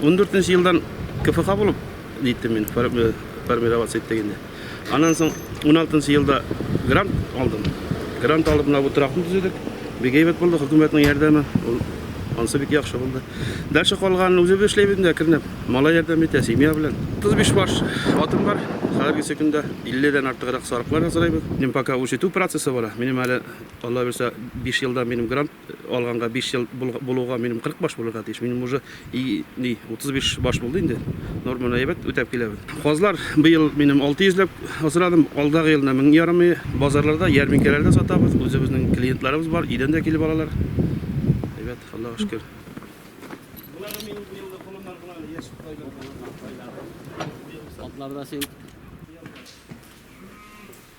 Ундүртенче елдан КФХ булып җиттем мин, формироваться иттек инде. Аннан соң уналтынчы елда грант алдым. Грант алып, менә бу торакны төзедек. Бик әйбәт булды, хөкүмәтнең ярдәме. Ул ансы бик яхшы булды. Дальше калганын үзебез эшләйбез инде әкренләп. Малай ярдәм итә, семья белән. 35 баш атым бар. Хәзергесе көндә 50 дән артыграк сарыклар асрыйбыз. Минем пока үрчетү процессы бара. Минем әле, Алла бирсә, 5 елда минем грант алганга биш ел булуга минем 40 баш булырга тиеш. Минем уже и, ни, 35 баш булды инде. Норманы әйбәт үтәп киләбез. Казлар быел минем 600 ләп асрадым. Алдагы елны 1000 ярымы. Базарларда, ярминкәләрдә сатабыз. Үзебезнең клиентларыбыз бар, илдән дә килеп алалар. Әйбәт, Аллага шөкер. Булар минем бу елны колоннар гына яшь тайлар булган. Атларда син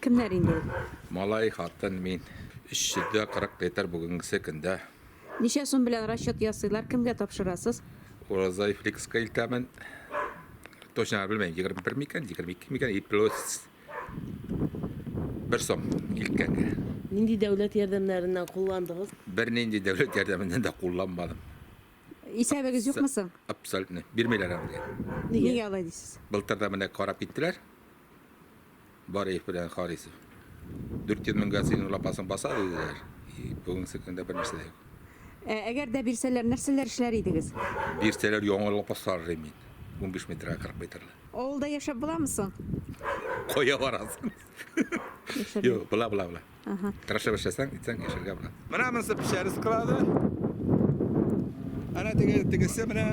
Кемнәр инде ул? Малай, хатын, мин. 340 литр бүгенгесе көндә. Ничә сум белән расчет ясыйлар, кемгә тапшырасыз? Ураза Ифликска илтәмен. Точно белмәйм, 21 микән, 22 микән, плюс бер сум илткәнгә. Нинди дәүләт ярдәмнәреннән кулландыгыз? Бернинди дәүләт ярдәменнән дә кулланмадым. Исәбегез юкмы соң? Абсолютно. Бирмиләр аны. Нигә алай дисез? Былтыр да менә карап киттеләр. Бар их белән Харисов. 400 меңгә синең лапасың баса диделәр. И, бүгенге көндә бер нәрсә дә юк. Ә әгәр дә бирсәләр, нәрсәләр эшләр идегез? Бирсәләр яңа лапас сарыр мин. 15 метрга 40 метрлы. Авылда яшәп буламы соң? Кая барасың? Юк, була, була, була. Ага. Крашеп эшләсәң, итсәң, яшәргә була. Менә монысы печәре склады. Әнә теге тегесе менә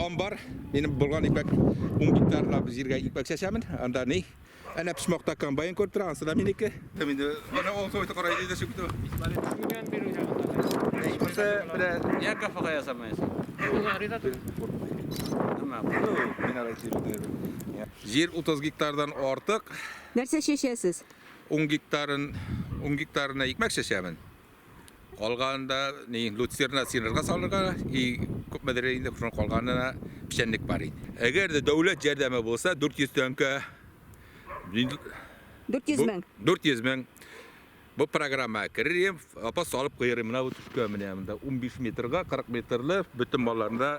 амбар. Минем булган ипәк 10 гектарлап җиргә ипәк чәчәмен. Анда ни? Әнә пешмакта комбайн күреп тора, ансы да минеке. Инде менә ул сойты кара иде шик ту. Монысы менә я кафега ясамыйсың. Нема? Мин ара килде. Җир 30 гектардан артык. Нәрсә чәчәсез? Ун гектарын, ун гектарына икмәк чәчәмен. Калганында ни люцерна синырга салырга и күпмедер инде шуның калганына печәнлек бар инде. Әгәр дә дәүләт ярдәме булса 400 тәңкә 400 мең. 400 мең. Бу программа керем, апа салып куярым. Менә бу төшкә менә монда 15 метрга 40 метрлы бөтен малларында